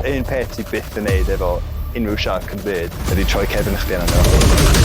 Un peth ti byth yn neud efo unrhyw siarc yn y byd ydy troi cefn chdi arnyn nhw.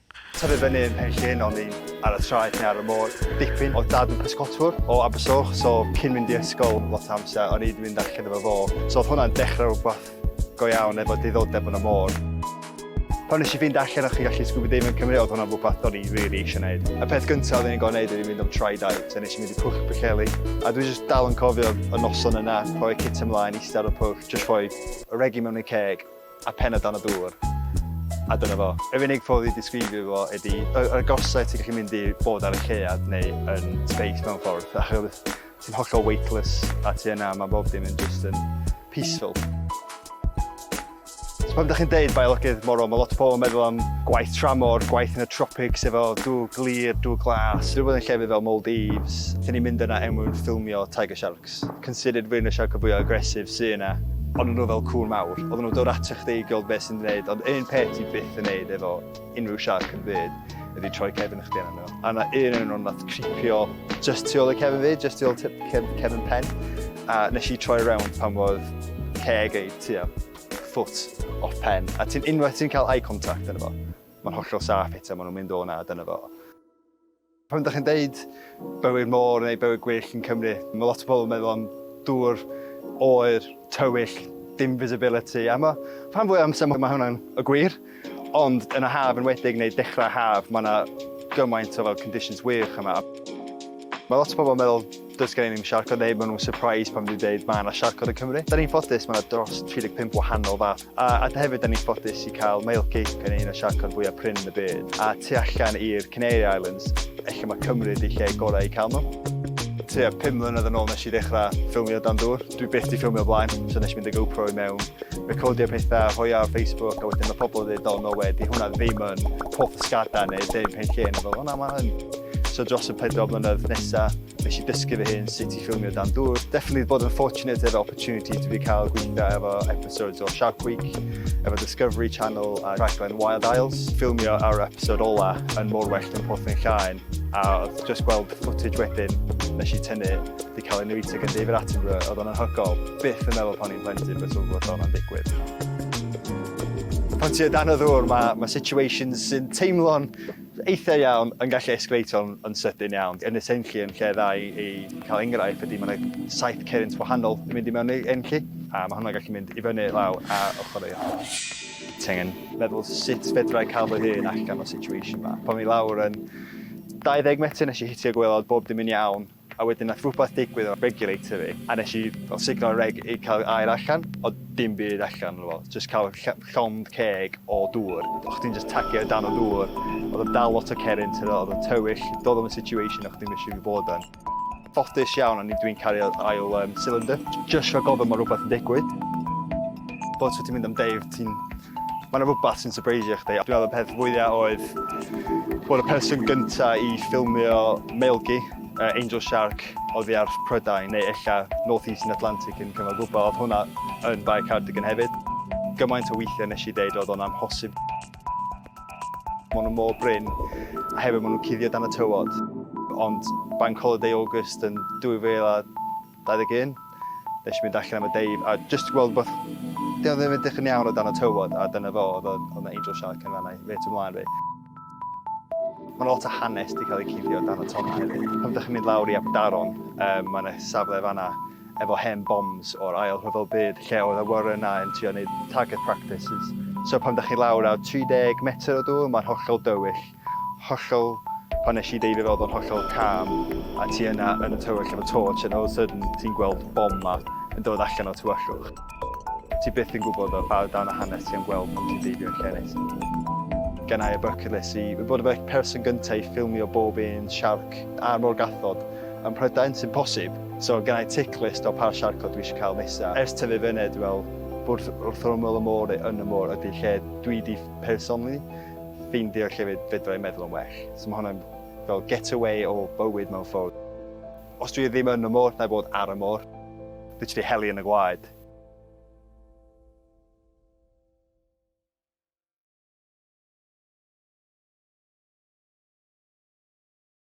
Tyfu fyny yn Penllyn o'n i'n ar y traeth neu ar y môr dipyn. Oedd dad yn pysgotwr o Abersoch, so cyn mynd i ysgol lot o amser o'n i'n mynd allan efo fo. So oedd hwnna'n dechrau rhywbeth go iawn efo diddordeb yn y môr. Pan nes i fynd allan o'ch chi gallu scuba diving yn Cymru, oedd hwnna'n rhywbeth o'n i really eisiau gwneud. Y peth gyntaf oedd i'n gorau gwneud oedd i fynd am try dive, so nes i mynd i Pwll Pwllheli. A dwi'n just dal yn cofio y noson yna, rhoi cit ymlaen, eistedd ar y pwll, just rhoi regi mewn i'r ceg, a pen o dan y dŵr a dyna fo. Yr unig ffordd i disgrifio fo ydy y, y gorsau ti'n gallu mynd i bod ar y llead neu yn space mewn ffordd achos ti'n hollol weightless a ti yna mae bob dim yn just yn peaceful. So pan ydych chi'n deud biolygydd morol, mae lot o pobl yn meddwl am gwaith tramor, gwaith yn y tropics efo dŵr glir, dŵr glas, rhywbeth yn llefydd fel Maldives. Dyn ni'n mynd yna er mwyn ffilmio tiger shark. considered rwy'n y siarcod fwya aggressive sy yna. Oedden nhw fel cŵn mawr, oedden nhw'n dod ato chdi i gweld beth sy'n gwneud, ond un peth ti byth yn neud efo unrhyw siarc yn byd ydy troi cefn i chdi arnyn nhw. A na un yn nhw'n nath cripio just tu ôl y cefn fi, just tu ôl cefn pen, a nes i troi rownd pan oedd ceg ei tua foot off pen, a ti'n unwaith ti'n cael eye contact yn efo, mae'n hollol saff eto, maen nhw'n mynd o'n ad yn efo. Pan ydych chi'n deud bywyd môr neu bywyd gwyllt yn Cymru, mae lot o bobl yn meddwl am dŵr, oer, tywyll, dim visibility, a mae rhan fwy o amser mae hwnna'n y gwir, ond yn y haf yn wedig neu dechrau haf, mae yna gymaint o fel conditions wych yma. Mae lot o bobl yn meddwl Does gen i ddim siarcod neu maen nhw'n surprised pan dwi'n dweud mae yna siarcod yn Cymru. Da ni'n ffodus, mae yna dros 35 wahanol fath. A, a hefyd da ni'n ffodus i cael male gape yn un o'r siarcod fwyaf prin yn y byd. A tu allan i'r Canary Islands, efallai mae Cymru ydi lle gorau i cael nhw tua 5 mlynedd yn ôl nes i ddechrau ffilmio dan dŵr. Dwi byth di ffilmio blaen, so nes i mynd y GoPro i mewn. recordio pethau, rhoi ar Facebook, a wedyn mae pobl yn dweud, oh no way, di hwnna ddim yn Porth Ysgada neu dim pen lle, neu fel, hwnna mae yn. So dros y pedro mlynedd nesa, nes i dysgu fy hyn sut i ffilmio dan dŵr. Definitely bod yn fortunate efo opportunity dwi wedi cael gweithio efo episodes o Shark Week, efo Discovery Channel a rhaglen Wild Isles. Ffilmio ar episode ola yn mor well yn Porth yn Llaen, a just gweld footage wedyn nes i tynnu, wedi cael ei newid ag yn David Attenborough, oedd o'n anhygol. Byth yn meddwl pan plentyn be' ti'n fod o'n digwydd. Pan ti o dan y ddŵr ma' ma' situations sy'n teimlo'n eitha iawn yn gallu esgleito'n yn sydyn iawn. Yn y Senlli yn lle dda i i ca'l enghraifft ydi ma' 'na saith cerrynt wahanol yn mynd i mewn i Enlli a ma' hwnna'n gallu mynd i fyny law a ochor i ochor. Ti angen meddwl sut fedra i ca'l fy hun allan o situation 'ma. Pan o'n i lawr yn dau ddeg metr nesh i hitio gwelod bob dim yn iawn. A wedyn nath rwbath digwydd efo regulator fi a nes i fel sugno reg i ca'l aer allan o'dd dim byd allan ono fo jyst ca'l ll- llond ceg o dŵr o' chdi'n jyst tagio o dan y ddŵr o'dd o'n dal lot o cerrynt t'wod o'dd o'n tywyll do'dd o'm yn situation o' chdi'm isio i fi bod yn. Ffodus iawn o'n i dwi'n cario ail yym cylinder. Jyst rhag ofon ma' rwbath yn digwydd. Fel so ti'n mynd am deir ti'n Mae yna rhywbeth sy'n sypreisio chdi. Dwi'n meddwl y peth fwyaf oedd bod y person gyntaf i ffilmio meilgi, uh, Angel Shark, oedd i ar Prydain, neu ella North Eastern Atlantic yn cyfnod gwybod, oedd hwnna yn Bae Cardigan hefyd. Gymaint o weithiau nes i ddeud oedd o'n amhosib. Mae nhw mor bryn, a hefyd maen nhw'n cuddio dan y tywod. Ond Bank Holiday August yn 2000 21, Nes i fynd allan am y deif a jyst gweld rwbeth dio ddim edrych yn iawn o dan y tywod a dyna fo oedd oedd na angel shark yn fanna reit o mlaen fi. Mae yna lot o hanes wedi cael eu cuddio dan y tonnau hefyd. Pan dych chi'n mynd lawr i Abdaron, um, mae yna safle fanna efo hen bombs o'r ail rhyfel byd lle oedd y warren na yn trio wneud target practices. So pan dych chi lawr ar 30 metr o dŵr, mae'n hollol dywyll. hollol, pan nes i deifio fe oedd o'n hollol calm, a ti yna yn y tywyll efo torch and all of a sudden ti'n gweld bom ma yn dod allan o'r tywyllwch. Ti byth yn gwybod o ba dan a hanes ti am gweld pan ti'n deifio yn lle neis. Gen i y bucket list i fod y person gyntaf i ffilmio bob un siarc a'r môr gathod ym Mhrydain, sy'n posib, so gen i tick list o pa siarcod dwi eisiau cael nesaf. Ers tyfu fyny dwi fel bod wrth ymyl y môr neu yn y môr ydy lle dwi di personally. ffeindio lle fe fedra i meddwl yn well. So mae hwnna'n fel get away o bywyd mewn ffordd. Os dwi ddim yn y môr, na i fod ar y môr. Literally heli yn y gwaed.